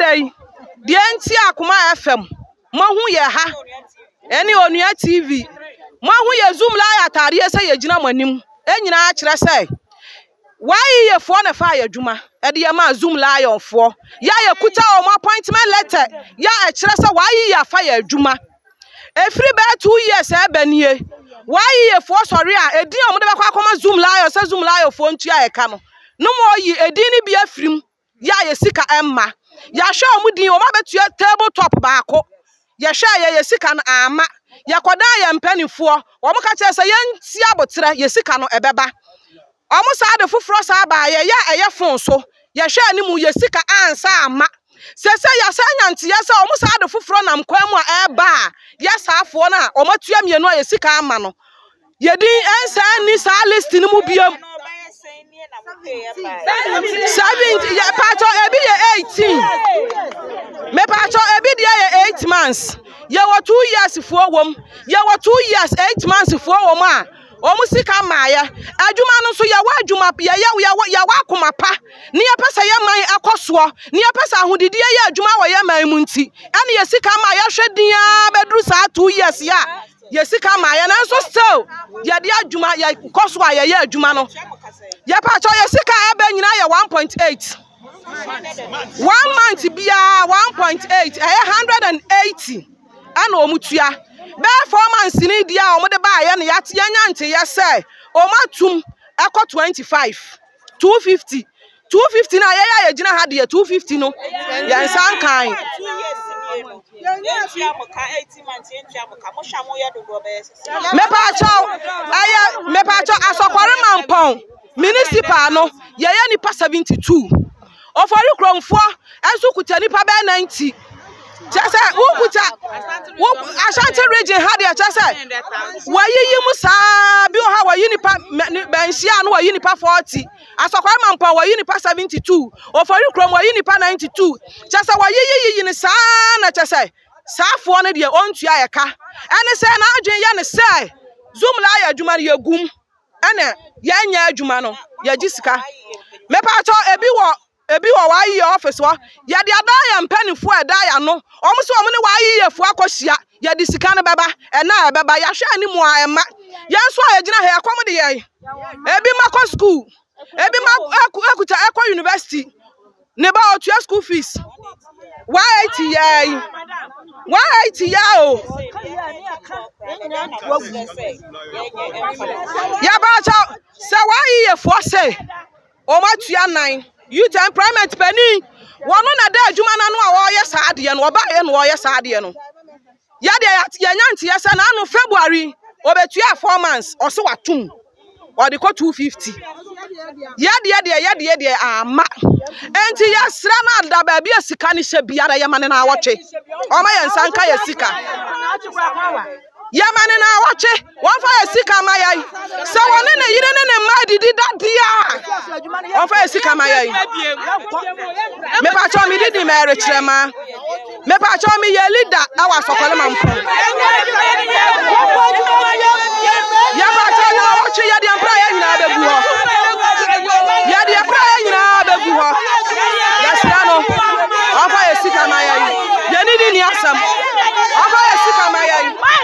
dɛ yi deɛ nti akoma fm moahu yɛ ha ɛne onua tv moahu yɛ zoom live ataadeɛ sɛ yɛgyina mo anim ɛnyinaa kyerɛ sɛ YEAfoɔ na ɛfaa yɛn adwuma de yɛn maa Zoom Lionfoɔ. Yɛ a yɛkuta wɔn appointment letter yɛ a ɛkyerɛ sɛ YEA afa yɛn adwuma. Ɛfiri bɛyɛ two years a ɛbɛ nie. YEAfoɔ sɔre a edin a wɔde bɛkɔ akɔma Zoom Lion sɛ Zoom Lionfoɔ ntua ɛka no, no ma wɔyi edin no bi afiri mu. yɛ a yɛ sika mma. Yɛahwɛ wɔn din, wɔn abɛtua table top baako. Yɛhwɛ yɛ yɛ sika no amma. Yɛkɔdaa yɛn mpanimfoɔ, wɔn ka kyerɛ sɛ yɛnsi aboterɛ, yɛ sika no ɛbɛba. Wɔn saa de foforɔ saa baa yɛ yɛ a ɛyɛ fon so. Yɛhwɛ ne mu, yɛ sika ansa amma. Sɛsɛ yɛasan anya nteɛ sɛ wɔn saa de foforɔ nam kwan mu a ɛreba a, yɛ saa foɔ no a wɔn atua mmienu a yɛ sika amma no. Yɛ din nsan nni saa list no mu biom. Seventeen yɛ paatɔ ebi yɛ eighteen. Mepaatɔ ebi deɛ yɛ eight months. Yɛwɔ two years foɔ wɔm. Yɛwɔ two years eight months foɔ wɔm a wɔn sika mmaayɛ. Adwuma no nso yɛwɔ adwuma yɛyɛ yɛwɔ yɛwɔ akoma pa. Ne yɛpɛ sɛ yɛ man ɛkɔ soɔ. Ne yɛpɛ sɛ ahodidie yɛ adwuma wɔ yɛ man mu nti. Ɛne yɛ sika mmaa yɛhwɛ din ara bɛduru saa two years yɛ a. yɛ sika ma yɛ nanso still yɛde adwuma yɛkɔ so a yɛyɛ adwuma no yɛpakyɛ yɛ sika a ɛbɛ nyinaa yɛ 1.8 one month biara 1.8 ɛyɛ 180 ɛna wɔn tua bɛɛ four months ni deɛ a wɔde baayɛ no yɛate yɛnya nteyɛ sɛ wɔn atum ɛkɔ 25. two fifty two fifty na yɛyɛ a yɛgyina ha deɛ two fifty no yɛn nsa nkan. mepaakyɛw ɛyɛ mepaakyɛw asɔkɔre mampɔn municipal no yɛyɛ nipa seventy two. Ofori kuromfoɔ nso kuta nipa bɛyɛ 90 kyɛ sɛ wokuta wo Ashanti region ha deɛ kyɛ sɛ wɔayiyi mu saa bi wɔ ha wɔyi nipa bɛnhyia no wɔyi nipa 40 asɔkwae mampɔn wɔyi nipa 72 ofori kurom wɔyi nipa 92 kyɛ sɛ wɔyiyi yiyi no saa na kyɛ sɛ saafoɔ no deɛ ɔntua ɛka ɛne sɛ n'adwene yɛ ne sɛ zoom la ayɛ adwuma no yɛgum ɛna yɛn nyɛ adwuma no yɛ gye sika mɛpa atɔ ebi wɔ ebi wɔ wɔn ayiyɛ ɔfis hɔ yɛde abɛn yɛn mpanyinfoɔ a ɛda yɛn ano wɔn nso wɔn ne wɔn ayiyɛfoɔ akɔhyia yɛde sika no bɛba ɛna ɛbɛba yɛahwɛ anim a ɛma yɛn nso a yɛgyina ha ɛkɔm de yɛn ebi ma kɔ sukuu ebi ma ɛkuta ɛkɔ yunivɛsiti. Ne ba ɔtua school fees one eighty yɛ yi one eighty yɛ o yaba sɛ sɛ wɔayɛ yɛ fɔ sɛ wɔn atua nan youth employment panyin wɔn na da adwuma n'ano a wɔreyɛ saa adeɛ no wɔbaayɛ na wɔreyɛ saa adeɛ no. Yɛ deɛ yɛate yɛanya nteɛ sɛ n'ano February obetua four months ɔse watom ɔde kɔ two fifty yɛ deɛ deɛ yɛ deɛ deɛ ama enti yɛsrɛ no ada baabi a sika ne hyɛ biara yɛma ne n'awɔtwe ɔma yɛn nsa nka yɛ sika yɛma ne n'awɔtwe Wɔmfa yɛn sika mma yɛn. Sɛ wɔne ne yere ne ne mma adidi da deɛ a, wɔmfa yɛn sika mma yɛn. Mepatwɔ mede di ma ɛrekyerɛ ma. Mepatwɔ meyɛ leader wɔ asɔkɔlɛ ma mpo. Yɛpatwɔ na wɔtwe yɛ deɛ mpra yɛ nyinaa bɛgu hɔ. Yɛ deɛ mpra yɛ nyinaa bɛgu hɔ. Yɛsrɛ no, wɔmfa yɛn sika mma yɛn. Yɛne ne ni asɛm. Wɔmfa yɛn sika mma yɛn.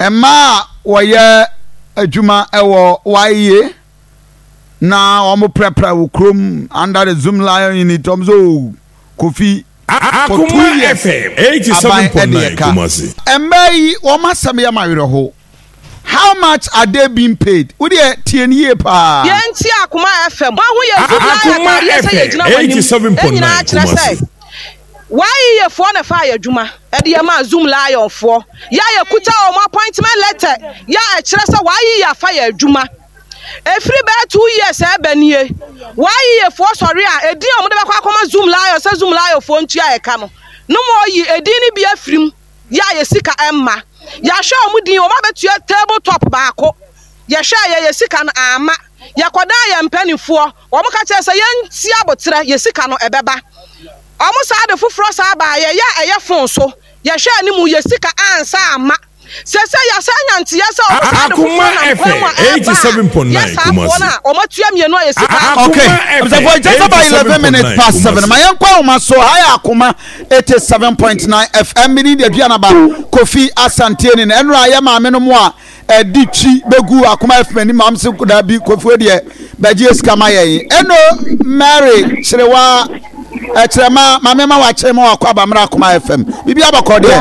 Mmaa a wɔyɛ adwuma wɔ YA na wɔprapra wɔ kurom under the Zoom Lion unit wɔn sɛ oh Kofi for two years aban ɛde ɛka. Mmaa yi wɔn asɛm yɛ ma werɛ ho. How much are they being paid? Wo deɛ tie no yie paa. Yɛn nti Akoma FM. Wɔn ho yɛ Zoom Lion ataadeɛ sɛ yɛgyina wɔn anim. Ɛnyinaa kyerɛ sɛ. W'ayeyɛfoɔ na ɛfaa yɛn adwuma de yɛn maa Zoom Lionfoɔ yɛ a yɛkuta wɔn appointment letter yɛ a ɛkyerɛ sɛ w'ayeyɛ afa yɛn adwuma. Ɛfiri bɛyɛ two years a ɛba nie, w'ayeyɛfoɔ sɔre a ɛdin a wɔde bɛkɔ akɔma Zoom Lion sɛ Zoom Lionfoɔ ntua yɛn ka no, no ma wɔyi ɛdin no bi afiri mu yɛ a yɛn sika mma. Yɛahwɛ wɔn din, wɔn abɛtua table top baako, yɛhwɛeɛ yɛn sika no amma. Yɛkɔdaa yɛn mpaninfoɔ. Wɔn ka kyerɛ sɛ yɛn nsi aboterɛ yɛ sika no ɛbɛba wɔn saa de foforɔ saa baa yɛ yɛ a ɛyɛ fon so yɛ hwɛ anim yɛ sika ansa ama sɛsɛ yɛ asan nya nteyɛ sɛ wɔn saa de foforɔ nam kwan mu a ɛba a yɛ saa foɔ no a wɔn atua mmienu a yɛ sika. ok abusafo nkyɛn sɛ ba eleven minutes past seven ma yɛn kɔ ahoma so ha yɛ akoma eighty seven point nine fm mi ni deɛ dua na ba kofi asanteɛ ni na ɛnura yɛ maame no mu a. ɛde twi bɛgu akoma afi m'ani mam se kodaa bi kofue deɛ bɛgyeɛ sika ma yɛn ɛno mary kyerewa ɛkyerɛma mame ma wakyɛ ma wakɔ abammerɛ akoma fm biribi abɔkɔ deɛ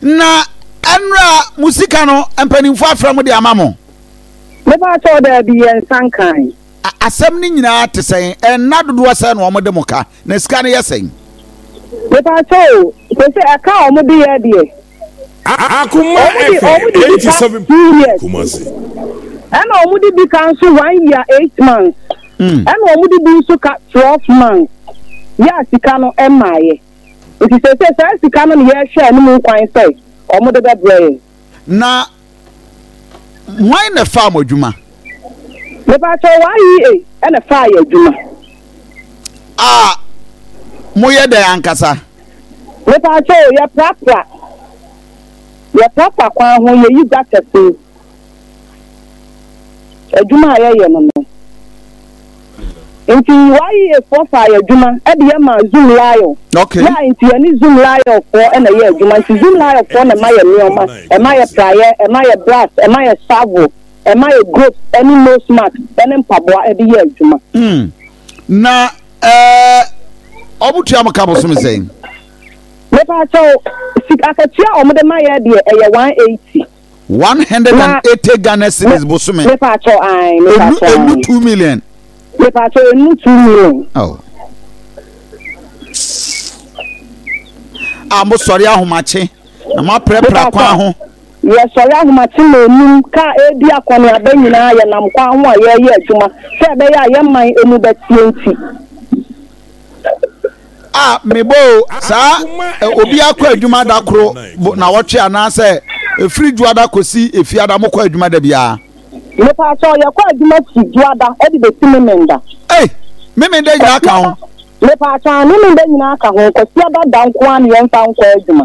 na ɛnora mo sika no mpanimfoɔ afrɛ mo de ama mo asɛm no nyinaa te sɛn ɛnna dodoɔ sɛ na wɔde mo ka Na sika no yɛ sɛn? Mepakyɛw o, sese ɛka a wɔn de yɛ deɛ. Akuma Efe, eighty seven point Kumasi. Ɛna wɔn de bi ka nso one year eight months. Ɛna wɔn de bi nso ka twelve months. Yɛ a sika no mmaeɛ. Nti sese saa sika no na yɛrehwɛ anim kwan sɛ wɔn de bɛbrɛ yɛn. Na Hwan na ɛfaa mo adwuma? Mepatwɛ YEA ɛna faa yɛ adwuma. A moyɛ dɛn ankasa? Mepatwɛ o, yɛprapra. Yɛprapra kwan ho, yɛyi gutters mu. Adwuma a yɛyɛ no no. Nti YEA foɔ faa yɛ adwuma de yɛ maa Zoom Lyon Okay. yɛ a nti yɛ ne Zoom Lyon foɔ na yɛ adwuma nti Zoom Lyon foɔ na ɛma yɛ nnoɔma ɛma yɛ praeɛ ɛma yɛ brass ɛma yɛ savo ɛma yɛ gropes ɛne nose mask ɛne mpaboa ɛde yɛ adwuma. Hmm. Na ɛɛ ɔmo tua mo ka bosome sɛn? Mepa akyɛw sika akatua a ɔmo de ma yɛ deɛ ɛyɛ one eighty. one hundred and eighty ghana cedis bosome. mepa atɔ ayi mepa atɔ ayi enu two million. mepa atɔ enu two million. Oh. a mo sɔre ahomakye na mo apirapira kwan ho. yɛsɔre ahomakye na enum ka ebi akɔneaba nyinaa yɛnam kwan ho a yɛreyɛ adwuma sɛ ɛbɛyɛ a yɛn man emu bɛteɛ nti. a mebɔɔ saa obi akɔ adwuma da koro nawɔtwe anaasɛ ɛfiri dwoada kɔsi efiada mokɔ adwuma da biara. mepaa sɛ ɔyɛkɔ adwuma si dwoada de bɛsi memenda. ei memenda nyinaa ka ho. mepaa sɛ a memenda nyinaa ka ho kwasiada da nko a ne yɛmfa nkɔ adwuma.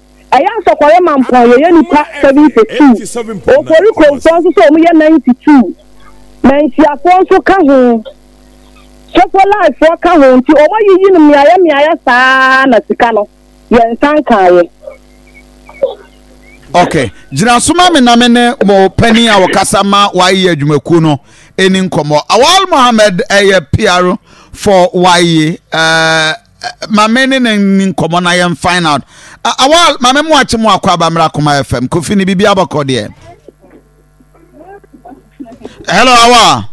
Ɛyɛ asɔkɔre mampɔn yɛyɛ nnipa seventy two, Oforikrofoɔ nso sɛ wɔyɛ ninety two, Mansiafoɔ nso ka ho, Sofolaifoɔ ka ho nti wɔn ayiyi no mmeaeɛ mmeaeɛ saa ara na sika no yɛn nsa nkaeɛ. Ok, gyina so ma me na me ne mo panin a ɔkasa ma wɔayɛ adwumakuo no ɛni nkɔmmɔ. Awal Mohammed ɛyɛ PR for wɔayɛ ɛɛ. Mame ne ne ni nkɔmɔ na yɛn find out. Awa mame mu akye mu akɔ abamira kuma FM kofi ni bibi abɔkɔ deɛ. Hello Awa.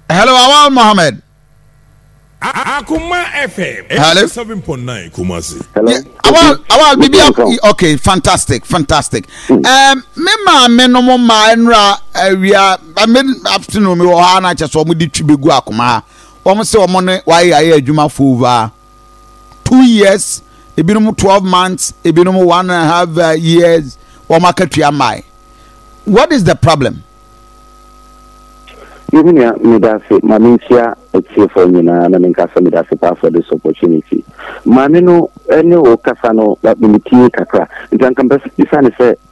Hello Awa Mohammed. Akuma FM. Hello. Seven point nine Kumasi. Hello. Yeah, awa awa bibi okay fantastic fantastic. Hmm. Um, me maame no mo maa nnura awia afternoon mi wɔ hɔ a na akyɛ sɛ wɔn di twi begu akoma ha. wɔn sɛ wɔn ne wɔayɛ ayɛ adwuma for over two years ebinom twelve months ebinom one and a half uh, years wɔn akatua mmae what is the problem. yehu nea meda ase ma menhyia atiefoɔ nyinaa na menka sɛ meda ase paa for this opportunity maame no ne wo kasa no memetie kakra nti anka mpɛ sɛ bisa ne sɛ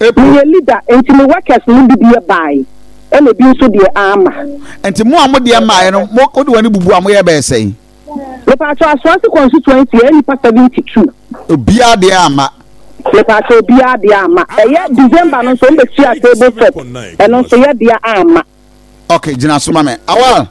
April. Meyɛ leader nti me workers nom bi deɛ baae ɛna bi nso deɛ amma. Nti mo a mo deɛ mmaaɛ no mo wode wani bubu a mo yɛ bɛyɛ sɛn? Mepaakyɛw Asoase constituency ɛyɛ nipa 72. Obiaa deɛ amma. Mepaakyɛw obiaa deɛ amma. Ɛyɛ December no nso wɔn bɛ sua table top ɛno nso yɛ deɛ amma. Okay, gyina so ma me. Awal.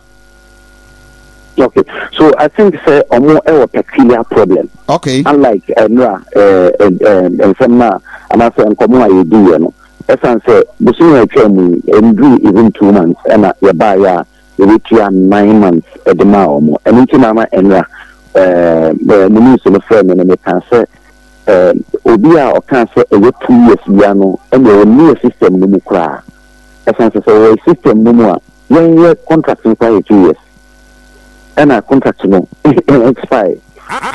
Okay, so I think sɛ ɔmo ɛwɔ peculiar problem. Okay. Unlike ɛnura eh, ɛɛ eh, eh, nsɛm na anaasɛ nkɔmɔ a yɛdi yɛ no, ɛsan sɛ bosomi a ɛtwa mu ɛnduru even two months ɛna yɛbaa yɛ a yɛbɛtua nine months ɛde maa ɔmo. Ɛno nti na ama ɛnura ɛɛ ɛɛ mo news no frɛ mi no mekaa sɛ ɛɛ obi a ɔkaa sɛ ɛyɛ two years bia no ɛna ɔwɔ near system no mu koraa. ɛsan sɛ sɛ ɔwɔ system no mu a yɛnyɛ contract no koraa yɛ two years ɛna contract no expire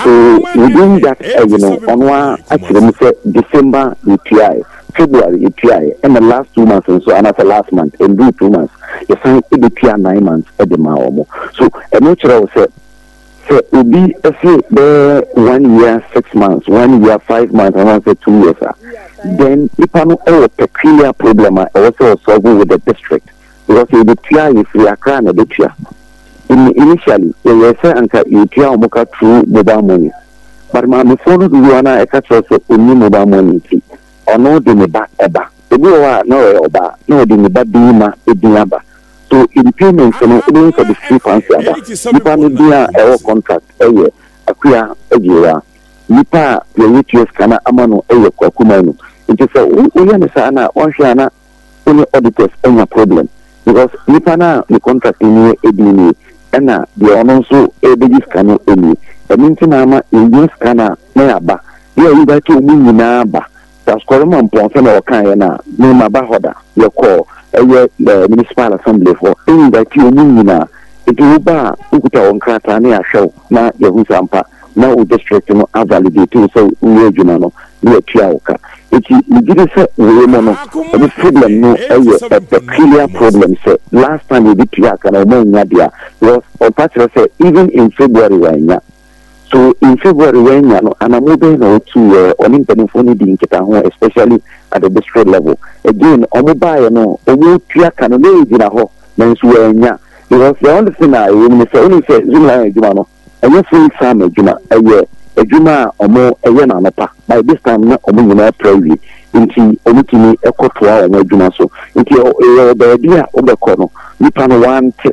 so within that ɛyi no ɔno a akyerɛ mu sɛ December yɛtuaeɛ February yɛtuaeɛ ɛna last two months nso anaasɛ last month ɛnduu two months yɛsan ɛbɛtua nine months ɛde maa wɔn so ɛno kyerɛ wo sɛ Sɛ obi se bɛyɛ one year six months, one year five months anaasɛ two years a, then nipa no wɔ peculiar problem a ɛwɔ sɛ ɔsolve with the district because sɛ yɛbɛtua a yɛfiri Accra na ɛbɛtua. In initially yɛyɛɛ sɛ anka yɛtua wɔn ka through mobile money but maamefoɔ no dodoɔ no a ɛka kyerɛ sɛ ɔnni mobile money nti ɔno de ne ba ɛba. Obi wɔ hɔ a na ɔyɛ ɔbaa na ɔde ne ba bɛyi ma ɛdin aba So in payment no wobɛhu sɛ ɔde free fancy aba? Nnipa no din a ɛwɔ contract yɛ Akua Agyewaa. Nnipa a deɛ yɛtua sika no ama no yɛ Kwaku Manu. Nti sɛ woyɛ no saa no a wanhwɛ a na wo ne auditors anya problem because nnipa no a ne contract no nie edin nie ɛna deɛ ɔno nso rebɛgye sika no nie. Ɛno nti na ama yɛnya sika no a na yɛaba. Yɛ a yɛbɛte wɔn nyinaa ba Asɔre mu a mpɔnsa na wɔkaeɛ no a, me maba hɔ da, yɛkɔɔ ɛyɛ ɛɛ municipal assembly foɔ invite wɔn nyinaa, nti wo ba a wo kuta wo nkrataa na yɛahwɛ wo na yɛahu sɛ ampa na wo district no a validate wo sɛ wo yɛ adwuma no na yɛatua wo ka, nti me gyidi sɛ wei mu no wɔn problem no yɛ a peculiar problem sɛ last time yɛde tuaa ka no wɔn annya dea because ɔmfa kyerɛ sɛ even in February wɔannya. So mfe bɔ a Reyan anya no, anamɔ bɛn na otu yɛ? Ɔne mpanyimfo no dii nkitaho especially at the district level. Again, wɔn baeɛ no wɔn tua ka no na egyina hɔ nanso wannya because the only thing a ɛwɔ mu ne sɛ wonim sɛ Zoom Lion adwuma no ɛnyɛ full time adwuma, ɛyɛ adwuma a wɔn ɛyɛ no anɔpa, by this time na wɔn nyinaa pra awie nti wɔn tumi ɛkɔ toa wɔn adwuma so. Nti ɛyɛ baabi a wobɛkɔ no nipa no wante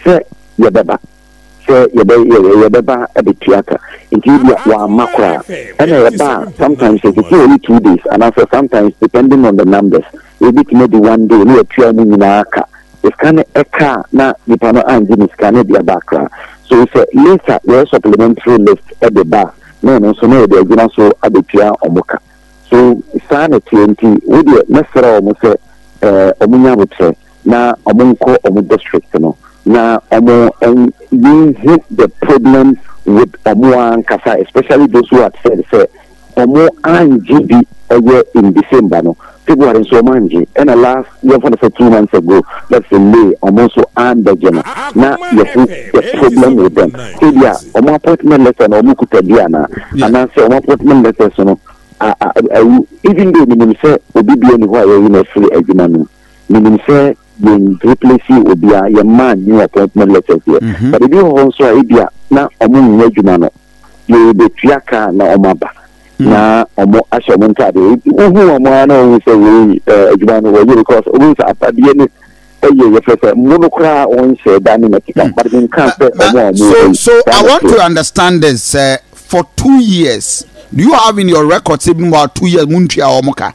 sɛ yɛbɛba. sɛ yɛbɛ yɛ yɛbɛba abɛtua ka nti ebia wamma koraa ɛna yɛba a sometimes ɛtete yɛne two days anaasɛ sometimes depending on the numbers ɛbɛtumi adi one day ne yɛtua mu nyinaa ka sika no ɛka a na nipa no angye ne sika no de aba koraa so sɛ later yɛyɛ supplementary list ɛde ba a na ɛno nso na yɛde agyina so abɛtua ɔmo ka so saa na ɛteɛ nti wodeɛ mɛsrɛ ɔmo sɛ ɛɛ ɔmo nya abotrɛ na ɔmo nkɔ ɔmo district no na ɔmo nhu the problem with ɔmo ankasa especially those who had said sɛ ɔmo angye bi ɛyɛ in December no February nso ɔmo angye ɛna last yɛmfa no sɛ two months ago let's say May ɔmo nso ambɛgye no na yɛhu the problem with them ebia ɔmo appointment letter na ɔmo kuta bi ana anaasɛ ɔmo appointment letters no awu even though menim sɛ obi bia ni hɔ a yɛyi no afiri adwuma no mu. menim sɛ yɛn replace obiara yɛn mmaa new appointment letters deɛ mhm. but ebi wɔ hɔ nso a ebi a na wɔn nyɛ adwuma no yɛn bɛtua kaa na wɔn aba mm. na wɔn ahyɛ wɔn ntaadeɛ wohu wɔn ara na wɔn sɛ wɔn eh, adwuma no wɔyɛ because wɔn sɛ apadeɛ no ɛyɛ yɛfɛ sɛ mo no koraa wɔn hyɛ da ne mɛtika mm. but mi nka sɛ wɔn a wɔn so so i want to understand this uh, for two years do you have in your record say about two years mo ntua wɔn ka.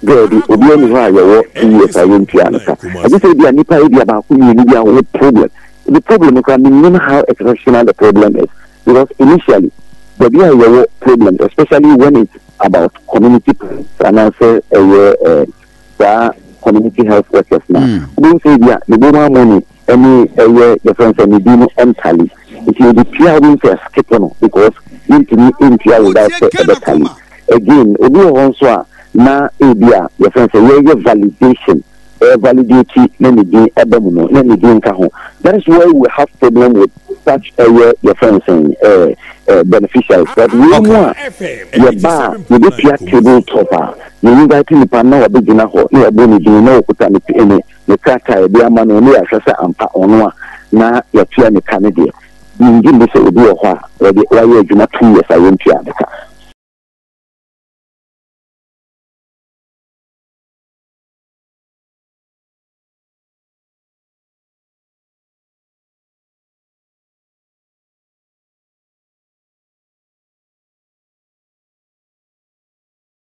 Daabi, obiara nni hɔ a yɛwɔ TES a yɛntua no ka. Agye sɛ ebia nnipa ebia baako mmienu bi a wɔwɔ problem. Ebi problem no koraa mennim how exceptional the problem is because initially baabi a yɛwɔ problems especially when it's about community problems anaasɛ ɛyɛ eh, saa community health workers na. Hmm. Wobɛhu sɛ ebia ne bɔmu amɔ ne ɛne ɛyɛ yɛfrɛ no sɛ ne din no ɛntale nti yɛde tua won't yɛ skip no because yɛntumi ntua without sɛ ɛbɛtale again obi wɔ hɔ nso a na ebi a yɛfrɛ no sɛ yɛyɛ validation ɛyɛ validate na ne din ɛba mu no na ne din nka ho that is why we have problem with such ɛyɛ yɛfrɛ no sɛ ɛɛ ɛɛ beneficiaries but wɔn mu a yɛba a yɛbɛtua table top a yɛn invite nipa na wɔbɛgyina hɔ na yɛbɔ ne din na wɔkuta ne ne ne krataa a yɛde ama no na yɛahwɛ sɛ ampa ɔno a na yɛatua ne ka no deɛ. Mennye nni sɛ obi wɔ hɔ a wɔde wayɛ adwuma two years a yɛntuaa ne ka.